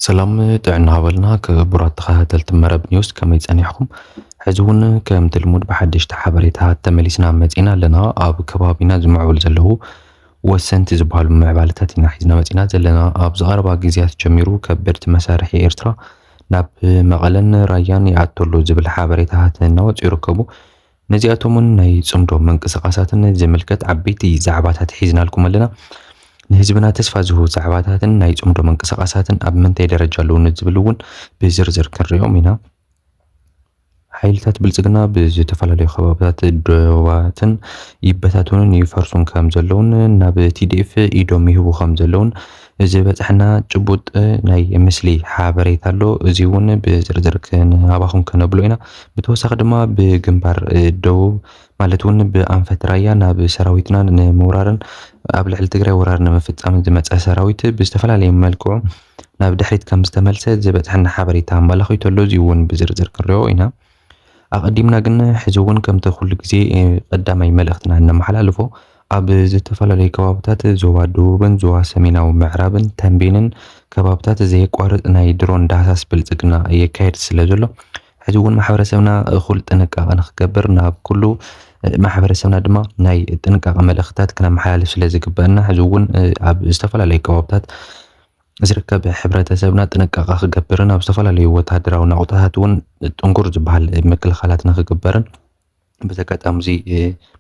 ሰላም ጥዕና ሃበልና ክቡራት ተኸታተልቲ መረብ ኒውስ ከመይ ጸኒሕኩም? ሕዚ እውን ከምቲ ልሙድ ብሓደሽቲ ሓበሬታት ተመሊስና መጺና ኣለና። ኣብ ከባቢና ዝምዕብሉ ዘለዉ ወሰንቲ ዝበሃሉ ምዕባለታት ኢና ሒዝና መጺና ዘለና። ኣብዚ ቀረባ ግዜያት ጀሚሩ ከበድቲ መሳርሒ ኤርትራ ናብ መቐለን ራያን ይኣቱ ኣሎ ዝብል ሓበሬታታት እናወጽኡ ይርከቡ። ነዚኣቶምን ናይ ጽምዶ ምንቅስቃሳትን ዝምልከት ዓበይቲ ዛዕባታት ሒዝናልኩም ኣለና። ንህዝብና ተስፋ ዝህቡ ዛዕባታትን ናይ ጽምዶ ምንቅስቃሳትን ኣብ ምንታይ ደረጃ ኣለዉ ንዝብል እውን ብዝርዝር ክንሪኦም ኢና። ሓይልታት ብልጽግና ብዝተፈላለዩ ከባብታት ዶባትን ይበታተኑን ይፈርሱን ከም ዘለውን ናብ ቲዲኤፍ ኢዶም ይህቡ ከም ዘለውን ዝበፀሐና ጭቡጥ ናይ ምስሊ ሓበሬታ ኣሎ እዚ እውን ብዝርዝር ክንሃባኹም ከነብሎ ኢና። ብተወሳኺ ድማ ብግንባር ደቡብ ማለት እውን ብኣንፈት ራያ ናብ ሰራዊትና ንምውራርን ኣብ ልዕሊ ትግራይ ወራር ንምፍፃምን ዝመፀ ሰራዊት ብዝተፈላለየ መልክዑ ናብ ድሕሪት ከም ዝተመልሰ ዝበፅሐና ሓበሬታ ኣመላኺቱ ኣሎ። እዚ እውን ብዝርዝር ክንሪኦ ኢና። ኣቐዲምና ግን ሕዚ እውን ከምቲ ኩሉ ግዜ ቀዳማይ መልእኽትና እነመሓላልፎ ኣብ ዝተፈላለዩ ከባብታት ዞባ ደቡብን ዞባ ሰሜናዊ ምዕራብን ተምቤንን ከባብታት ዘየቋርፅ ናይ ድሮን ዳህሳስ ብልፅግና የካየድ ስለ ዘሎ ሕዚ እውን ማሕበረሰብና እኹል ጥንቃቐ ንክገብር ናብ ኩሉ ማሕበረሰብና ድማ ናይ ጥንቃቐ መልእኽትታት ክነመሓላልፍ ስለ ዝግበአና ሕዚ እውን ኣብ ዝተፈላለዩ ከባብታት ዝርከብ ሕብረተሰብና ጥንቃቐ ክገብርን ኣብ ዝተፈላለዩ ወተሃደራዊ ናቑጣታት እውን ጥንኩር ዝበሃል ምክልኻላት ንክግበርን በዚ ኣጋጣሚ እዚ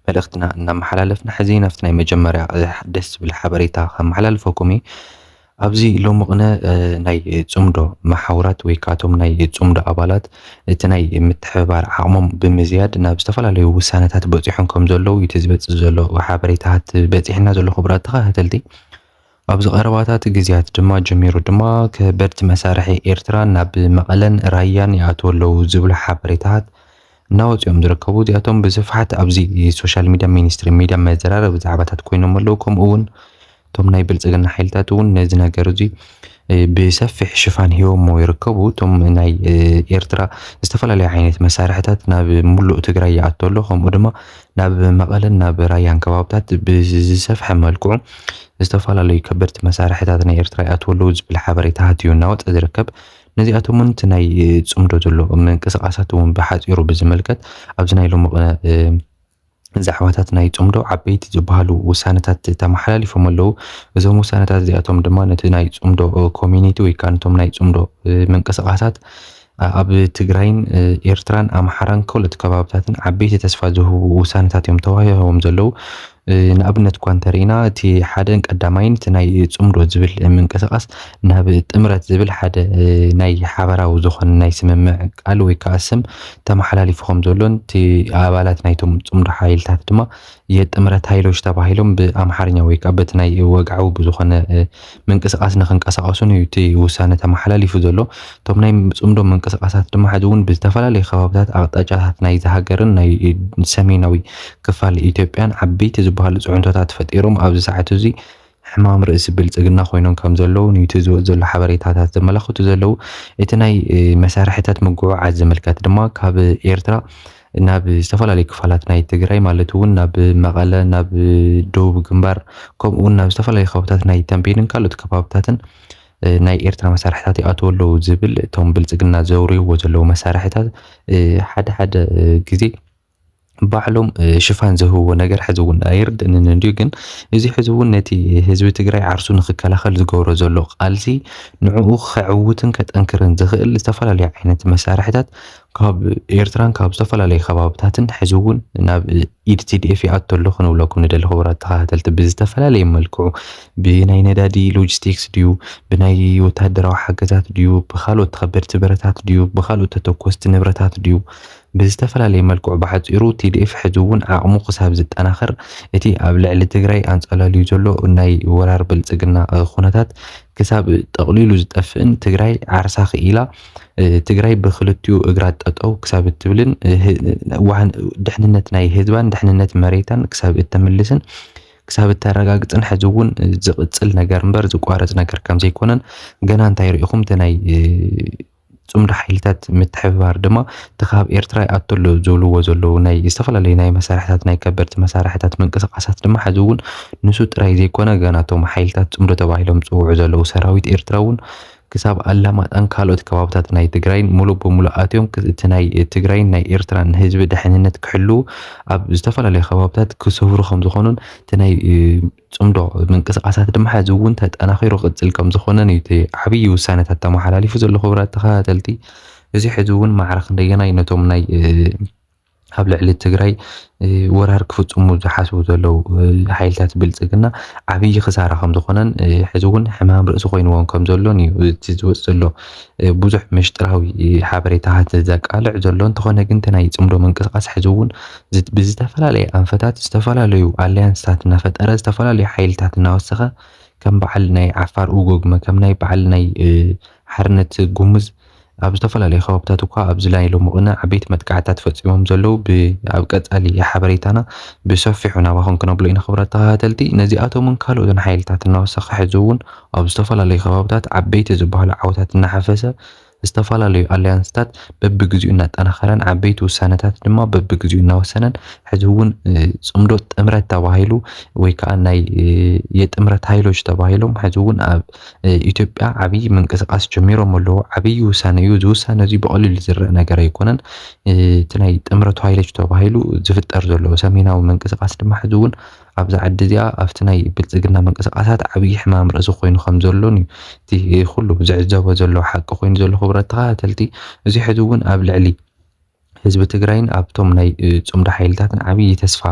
መልእኽትና እናመሓላለፍና ሕዚ ናብቲ ናይ መጀመርያ ደስ ዝብል ሓበሬታ ከመሓላልፈኩም እዩ ኣብዚ ሎሚ ቅነ ናይ ፅምዶ መሓውራት ወይ ከዓ እቶም ናይ ፅምዶ ኣባላት እቲ ናይ ምትሕብባር ዓቕሞም ብምዝያድ ናብ ዝተፈላለዩ ውሳነታት በፂሖም ከም ዘለዉ እቲ ዝበፅእ ዘሎ ሓበሬታታት በፂሕና ዘሎ ክቡራት ተኸታተልቲ ኣብዚ ቀረባታት ግዝያት ድማ ጀሚሩ ድማ ከበድቲ መሳርሒ ኤርትራ ናብ መቐለን ራያን ይኣትው ኣለው ዝብሉ ሓበሬታታት እናወፅኦም ዝርከቡ እዚኣቶም ብስፍሓት ኣብዚ ሶሻል ሚድያ ሚኒስትሪ ሚድያ መዘራረቢ ዛዕባታት ኮይኖም ኣለው ከምኡ እውን እቶም ናይ ብልፅግና ሓይልታት እውን ነዚ ነገር እዚ ብሰፊሕ ሽፋን ሂቦሞ ይርከቡ እቶም ናይ ኤርትራ ዝተፈላለዩ ዓይነት መሳርሕታት ናብ ሙሉእ ትግራይ ይኣቶ ኣሎ ከምኡ ድማ ናብ መቐለን ናብ ራያን ከባብታት ብዝሰፍሐ መልክዑ ዝተፈላለዩ ከበድቲ መሳርሕታት ናይ ኤርትራ ይኣትዉ ኣለዉ ዝብል ሓበሬታ ሃትዩ እናወፀ ዝርከብ ነዚኣቶም እውን እቲ ናይ ፅምዶ ዘሎ ምንቅስቓሳት እውን ብሓፂሩ ብዝምልከት ኣብዚ ናይ ሎሚ ዛዕባታት ናይ ፅምዶ ዓበይቲ ዝበሃሉ ውሳነታት ተመሓላሊፎም ኣለዉ። እዞም ውሳነታት እዚኣቶም ድማ ነቲ ናይ ፅምዶ ኮሚኒቲ ወይ ከዓ ነቶም ናይ ፅምዶ ምንቅስቓሳት ኣብ ትግራይን ኤርትራን ኣምሓራን ከሎት ከባብታትን ዓበይቲ ተስፋ ዝህቡ ውሳነታት እዮም ተዋሂቦም ዘለዉ። ንኣብነት እኳ እንተርኢና እቲ ሓደን ቀዳማይን እቲ ናይ ጽምዶ ዝብል ምንቅስቃስ ናብ ጥምረት ዝብል ሓደ ናይ ሓበራዊ ዝኾነ ናይ ስምምዕ ቃል ወይ ከኣ ስም ተመሓላሊፉ ከም ዘሎን እቲ ኣባላት ናይቶም ጽምዶ ሓይልታት ድማ የጥምረት ሃይሎች ተባሂሎም ብኣምሓርኛ ወይ ከኣ በቲ ናይ ወግዓዊ ብዝኾነ ምንቅስቃስ ንክንቀሳቀሱን እዩ እቲ ውሳነ ተመሓላሊፉ ዘሎ። እቶም ናይ ጽምዶ ምንቅስቃሳት ድማ ሕዚ እውን ብዝተፈላለዩ ከባብታት ኣቅጣጫታት ናይዛ ሃገርን ናይ ሰሜናዊ ክፋል ኢትዮጵያን ዓበይቲ ዝበሃሉ ጽዕንቶታት ፈጢሮም ኣብዚ ሰዓት እዚ ሕማም ርእሲ ብልጽግና ኮይኖም ከም ዘለዉ ኑቲ ዝወጽ ዘሎ ሓበሬታታት ዘመላኽቱ ዘለዉ። እቲ ናይ መሳርሕታት ምጉዕዓዝ ዝምልከት ድማ ካብ ኤርትራ ናብ ዝተፈላለዩ ክፋላት ናይ ትግራይ ማለት እውን ናብ መቐለ፣ ናብ ደቡብ ግንባር ከምኡ እውን ናብ ዝተፈላለዩ ከባብታት ናይ ተምቤንን ካልኦት ከባብታትን ናይ ኤርትራ መሳርሕታት ይኣትዉ ኣለዉ ዝብል እቶም ብልጽግና ዘውርይዎ ዘለዉ መሳርሕታት ሓደ ሓደ ግዜ ባዕሎም ሽፋን ዝህብዎ ነገር ሕዚ እውን ኣይርድእንን እንድዩ ግን እዚ ሕዚ እውን ነቲ ህዝቢ ትግራይ ዓርሱ ንክከላኸል ዝገብሮ ዘሎ ቃልሲ ንዕኡ ከዕውትን ከጠንክርን ዝኽእል ዝተፈላለዩ ዓይነት መሳርሕታት ካብ ኤርትራን ካብ ዝተፈላለዩ ከባብታትን ሕዚ እውን ናብ ኢድ ቲዲኤፍ ይኣቶ ኣሎ ክንብለኩም ንደሊ ክቡራት ተኸታተልቲ ብዝተፈላለየ መልክዑ ብናይ ነዳዲ ሎጂስቲክስ ድዩ ብናይ ወታደራዊ ሓገዛት ድዩ ብካልኦት ተኸበድቲ ብረታት ድዩ ብካልኦት ተተኮስቲ ንብረታት ድዩ ብዝተፈላለየ መልክዑ ብሓፂሩ tdf ሕዚ እውን ዓቕሙ ክሳብ ዝጠናኸር እቲ ኣብ ልዕሊ ትግራይ ኣንፀላልዩ ዘሎ ናይ ወራር ብልፅግና ኹነታት ክሳብ ጠቕሊሉ ዝጠፍእን ትግራይ ዓርሳ ክኢላ ትግራይ ብክልቲኡ እግራ ጠጠው ክሳብ እትብልን ድሕንነት ናይ ህዝባን ድሕንነት መሬታን ክሳብ እተምልስን ክሳብ እተረጋግፅን ሕዚ እውን ዝቕፅል ነገር እምበር ዝቋረፅ ነገር ከም ዘይኮነን ገና እንታይ ርኢኹም እቲ ናይ ፅምዶ ሓይልታት ምትሕብባር ድማ እቲ ካብ ኤርትራ ይኣቱ ኣሎ ዝብልዎ ዘለዉ ናይ ዝተፈላለዩ ናይ መሳርሕታት ናይ ከበድቲ መሳርሕታት ምንቅስቓሳት ድማ ሕዚ እውን ንሱ ጥራይ ዘይኮነ ገና እቶም ሓይልታት ፅምዶ ተባሂሎም ዝፅውዑ ዘለዉ ሰራዊት ኤርትራ እውን ክሳብ ኣላማጣን ካልኦት ከባብታት ናይ ትግራይን ሙሉእ ብሙሉእ ኣትዮም እቲ ናይ ትግራይን ናይ ኤርትራን ህዝቢ ድሕንነት ክሕልዉ ኣብ ዝተፈላለዩ ከባብታት ክሰፍሩ ከምዝኾኑን እቲ ናይ ጽምዶ ምንቅስቓሳት ድማ ሕዚ እውን ተጠናኺሩ ክቕጽል ከምዝኾነን እዩ እቲ ዓብዪ ውሳነታት ተመሓላሊፉ ዘሎ። ክቡራት ተኸታተልቲ እዚ ሕዚ እውን ማዕረ ክንደየናይ ነቶም ናይ ኣብ ልዕሊ ትግራይ ወራር ክፍጽሙ ዝሓስቡ ዘለዉ ሓይልታት ብልጽግና ዓብዪ ክሳራ ከም ዝኾነን ሕዚ እውን ሕማም ርእሲ ኮይንዎም ከም ዘሎን እዩ እቲ ዝወፅ ዘሎ ብዙሕ ምሽጥራዊ ሓበሬታታት ዘቃልዕ ዘሎ እንተኾነ ግን እቲ ናይ ፅምዶ ምንቅስቓስ ሕዚ እውን ብዝተፈላለየ ኣንፈታት ዝተፈላለዩ ኣሊያንስታት እናፈጠረ ዝተፈላለዩ ሓይልታት እናወሰኸ ከም በዓል ናይ ዓፋር ኡጎግመ ከም ናይ በዓል ናይ ሓርነት ጉሙዝ ኣብ ዝተፈላለዩ ከባብታት እኳ ኣብዚ ናይ ሎሚ ቅነ ዓበይቲ መጥቃዕትታት ፈፂሞም ዘለዉ ኣብ ቀፃሊ ሓበሬታና ብሰፊሑ ናባኹም ክነብሎ ኢና ክብራት ተኸታተልቲ ነዚኣቶምን ካልኦትን ሓይልታት እናወሰኸ ሕዚ እውን ኣብ ዝተፈላለዩ ከባብታት ዓበይቲ ዝበሃሉ ዓወታት እናሓፈሰ ዝተፈላለዩ ኣሊያንስታት በብግዚኡ እናጠናኸረን ዓበይቲ ውሳነታት ድማ በብግዚኡ እናወሰነን ሕዚ እውን ፅምዶ ጥምረት ተባሂሉ ወይ ከዓ ናይ የጥምረት ኃይሎች ተባሂሎም ሕዚ እውን ኣብ ኢትዮጵያ ዓብይ ምንቅስቃስ ጀሚሮም ኣለዎ። ዓብይ ውሳነ እዩ። እዚ ውሳነ እዚ ብቐሊሉ ዝረእ ነገር ኣይኮነን። እቲ ናይ ጥምረቱ ኃይሎች ተባሂሉ ዝፍጠር ዘሎ ሰሜናዊ ምንቅስቃስ ድማ ሕዚ እውን ኣብዛ ዓዲ እዚኣ ኣብቲ ናይ ብልጽግና ምንቅስቃሳት ዓብይ ሕማም ርእሲ ኮይኑ ከም ዘሎን እዩ እቲ ኩሉ ዝዕዘቦ ዘሎ ሓቂ ኮይኑ ዘሎ ክቡራት ተኸታተልቲ እዚ ሕዚ እውን ኣብ ልዕሊ ህዝቢ ትግራይን ኣብቶም ናይ ጽምዶ ሓይልታትን ዓብይ ተስፋ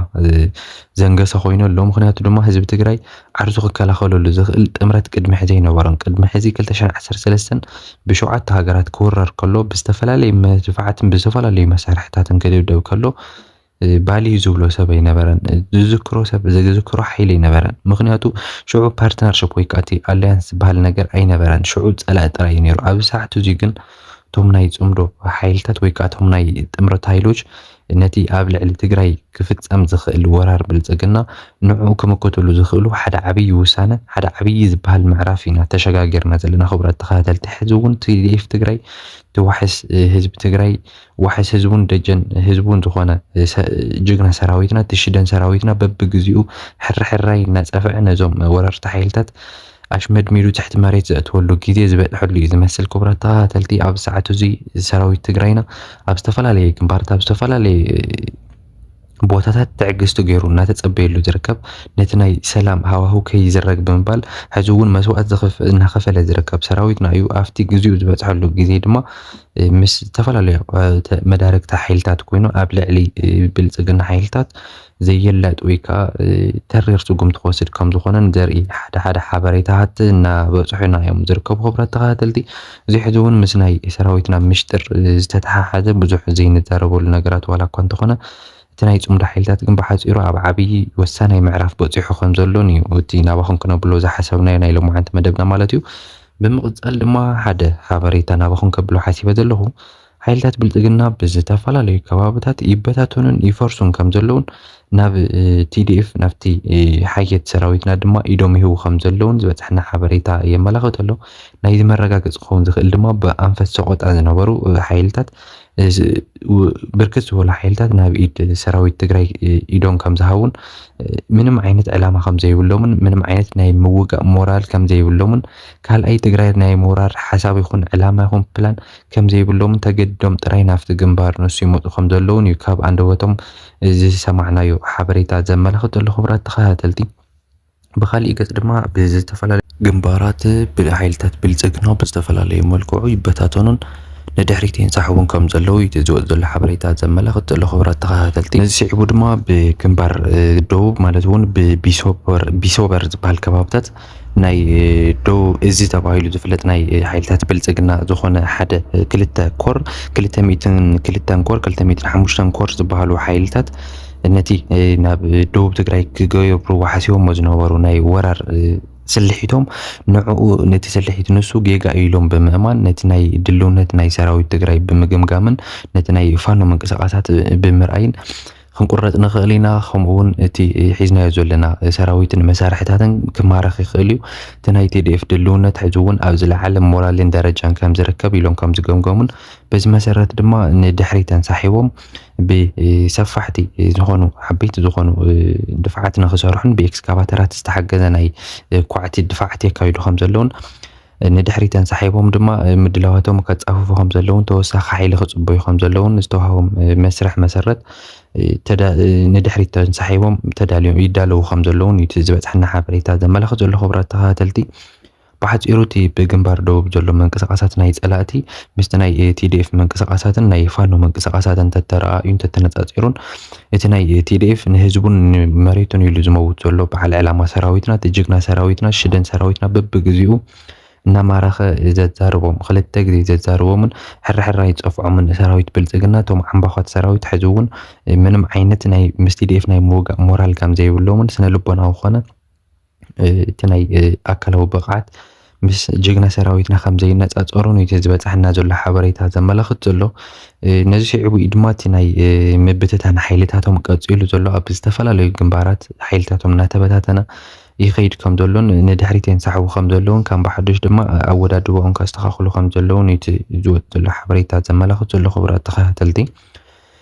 ዘንገሰ ኮይኑ ኣሎ ምክንያቱ ድማ ህዝቢ ትግራይ ዓርሱ ክከላኸለሉ ዝኽእል ጥምረት ቅድሚ ሕዚ ኣይነበሮን ቅድሚ ሕዚ 2013 ብሸውዓተ ሃገራት ክውረር ከሎ ብዝተፈላለዩ መድፋዕትን ብዝተፈላለዩ መሳርሕታትን ክድብደብ ከሎ ባልዩ ዝብሎ ሰብ ኣይነበረን ዝዝክሮ ሰብ ዝዝክሮ ሓይሊ ኣይነበረን ምክንያቱ ሽዑ ፓርትነርሽፕ ወይ ከዓ እቲ ኣላያንስ ዝበሃል ነገር ኣይነበረን ሽዑ ፀላኢ ጥራይ እዩ ነይሩ ኣብዚ ሰዓት እዙይ ግን እቶም ናይ ፅምዶ ሓይልታት ወይ ከዓ እቶም ናይ ጥምረት ሃይሎች ነቲ ኣብ ልዕሊ ትግራይ ክፍፀም ዝኽእል ወራር ብልፅግና ንዕኡ ክምክትሉ ዝኽእሉ ሓደ ዓብዪ ውሳነ ሓደ ዓብዪ ዝበሃል ምዕራፍ ኢና ተሸጋጊርና ዘለና ክቡራት ተኸታተልቲ ሕዚ እውን ቲዲኤፍ ትግራይ ተዋሕስ ህዝቢ ትግራይ ዋሕስ ህዝቡን ደጀን ህዝቡን ዝኾነ ጅግና ሰራዊትና እቲ ሽደን ሰራዊትና በብግዚኡ ሕርሕራይ እናፀፍዐ ነዞም ወረርቲ ሓይልታት ኣሽመድሚዱ ትሕቲ መሬት ዘእትወሉ ግዜ ዝበፅሐሉ እዩ ዝመስል። ክቡራት ተኸታተልቲ ኣብዚ ሰዓት እዙይ ሰራዊት ትግራይና ኣብ ዝተፈላለየ ግንባርት ኣብ ዝተፈላለየ ቦታታት ትዕግስቲ ገይሩ እናተጸበየሉ ዝርከብ፣ ነቲ ናይ ሰላም ሃዋህው ከይዝረግ ብምባል ሕዚ እውን መስዋእቲ እናኸፈለ ዝርከብ ሰራዊትና እዩ። ኣብቲ ግዜኡ ዝበጽሐሉ ግዜ ድማ ምስ ዝተፈላለዩ መዳርግቲ ሓይልታት ኮይኑ ኣብ ልዕሊ ብልጽግና ሓይልታት ዘየላጥ ወይ ከዓ ተሪር ስጉምቲ ክወስድ ከም ዝኾነን ዘርኢ ሓደ ሓደ ሓበሬታታት እናበጽሑና እዮም ዝርከቡ። ክብራት ተኸታተልቲ እዚ ሕዚ እውን ምስ ናይ ሰራዊትና ምሽጥር ዝተተሓሓዘ ብዙሕ ዘይንዛረበሉ ነገራት ዋላ እኳ እንተኾነ እቲ ናይ ፅምዶ ሓይልታት ግን ብሓፂሩ ኣብ ዓብዪ ወሳናይ ምዕራፍ በፂሑ ከምዘሎን እዩ እቲ ናባኹም ክነብሎ ዝሓሰብናዮ ናይ ሎማዓንቲ መደብና ማለት እዩ። ብምቕፃል ድማ ሓደ ሓበሬታ ናባኹም ከብሎ ሓሲበ ዘለኹ። ሓይልታት ብልፅግና ብዝተፈላለዩ ከባብታት ይበታተኑን ይፈርሱን ከም ዘለውን ናብ ቲዲኤፍ ናብቲ ሓየት ሰራዊትና ድማ ኢዶም ይህቡ ከም ዘለውን ዝበፅሐና ሓበሬታ የመላኽት ኣሎ። ናይዚ መረጋገፂ ክኸውን ዝኽእል ድማ ብኣንፈት ሰቆጣ ዝነበሩ ሓይልታት ብርክት ዝበሉ ሓይልታት ናብ ኢድ ሰራዊት ትግራይ ኢዶም ከም ዝሃቡን ምንም ዓይነት ዕላማ ከም ዘይብሎምን ምንም ዓይነት ናይ ምውጋእ ሞራል ከም ዘይብሎምን ካልኣይ ትግራይ ናይ ምውራር ሓሳብ ይኹን ዕላማ ይኹን ፕላን ከምዘይብሎምን ተገዲዶም ጥራይ ናብቲ ግንባር ንሱ ይመጹ ከምዘለዉን እዩ ካብ ኣንደበቶም ዝሰማዕናዮ ሓበሬታ ዘመላኽት ዘሎ። ክቡራት ተኸታተልቲ ብኻሊእ ገጽ ድማ ብዝተፈላለዩ ግንባራት ብሓይልታት ብልጽግና ብዝተፈላለዩ መልክዑ ይበታተኑን ንድሕሪት ይንሳሕቡን ከም ዘለዉ እዩ እቲ ዝወጽእ ዘሎ ሓበሬታ ዘመላኽት ዘሎ። ክቡራት ተኸታተልቲ ነዚ ስዒቡ ድማ ብግንባር ደቡብ ማለት እውን ብቢሶበር ቢሶበር ዝበሃል ከባብታት ናይ ደቡብ እዚ ተባሂሉ ዝፍለጥ ናይ ሓይልታት ብልጽግና ዝኾነ ሓደ ክልተ ኮር ክልተ ሚእትን ክልተን ኮር ክልተ ሚእትን ሓሙሽተን ኮር ዝበሃሉ ሓይልታት ነቲ ናብ ደቡብ ትግራይ ክገብርዎ ሓሲቦሞ ዝነበሩ ናይ ወራር ስልሒቶም ንዕኡ ነቲ ስልሒት ንሱ ጌጋ ኢሎም ብምእማን ነቲ ናይ ድልውነት ናይ ሰራዊት ትግራይ ብምግምጋምን ነቲ ናይ ፋኖ ምንቅስቃሳት ብምርኣይን ክንቁረጽ ንኽእል ኢና፣ ከምኡ'ውን እቲ ሒዝናዮ ዘለና ሰራዊትን መሳርሒታትን ክማረኽ ይኽእል እዩ፣ እቲ ናይ tdf ድልውነት ሕጂ'ውን ኣብ ዝለዓለ ሞራልን ደረጃን ከም ዝርከብ ኢሎም ከም ዝገምገሙን በዚ መሰረት ድማ ንድሕሪት ተንሳሒቦም ብሰፋሕቲ ዝኾኑ ዓበይቲ ዝኾኑ ድፍዓት ንኽሰርሑን ብኤክስካቫተራት ዝተሓገዘ ናይ ኳዕቲ ድፋዓት የካይዱ ከም ዘለውን ንድሕሪት ተንሳሒቦም ድማ ምድላዋቶም ከጻፍፉ ከምዘለውን ተወሳኺ ሓይሊ ክጽበዩ ከምዘለውን ዝተዋህቦም መስርሕ መሰረት ንድሕሪት ተንሳሒቦም ተዳልዮም ይዳለዉ ከምዘለውን እዩ እቲ ዝበጽሐና ሓበሬታ ዘመላኽት ዘሎ። ክቡራት ተኸታተልቲ ብሓጺሩ እቲ ብግንባር ደቡብ ዘሎ ምንቅስቓሳት ናይ ጸላእቲ ምስቲ ናይ ቲዲኤፍ ምንቅስቓሳትን ናይ ፋኖ ምንቅስቓሳትን ተተረኣእዩን ተተነጻጺሩን እቲ ናይ tdf ንህዝቡን ንመሬቱን ኢሉ ዝመውት ዘሎ በዓል ዕላማ ሰራዊትና እቲ ጅግና ሰራዊትና ሽደን ሰራዊትና በብግዚኡ እናማረኸ ዘዛርቦም ክልተ ግዜ ዘዛርቦምን ሕራሕራ ይጸፍዖምን ሰራዊት ብልጽግና እቶም ዓምባዃት ሰራዊት ሕዚ እውን ምንም ዓይነት ናይ ምስ tdf ናይ ምውጋእ ሞራል ከም ዘይብሎምን ስነ ልቦናዊ ኮነ እቲ ናይ ኣካላዊ ብቕዓት ምስ ጅግና ሰራዊትና ከም ዘይነጻጸሩን እዩ እቲ ዝበጽሓና ዘሎ ሓበሬታ ዘመላኽት ዘሎ። ነዚ ስዒቡ እዩ ድማ እቲ ናይ ምብትታን ሓይልታቶም ቀጺሉ ዘሎ። ኣብ ዝተፈላለዩ ግንባራት ሓይልታቶም እናተበታተነ ይኸይድ ከም ዘሎን ንድሕሪት የንሳሕቡ ከም ዘለውን ከም ብሓዱሽ ድማ ኣወዳድባኦም ከስተኻኽሉ ከም ዘለውን እዩ እቲ ዝወጽእ ዘሎ ሓበሬታ ዘመላኽት ዘሎ። ክቡራት ተኸታተልቲ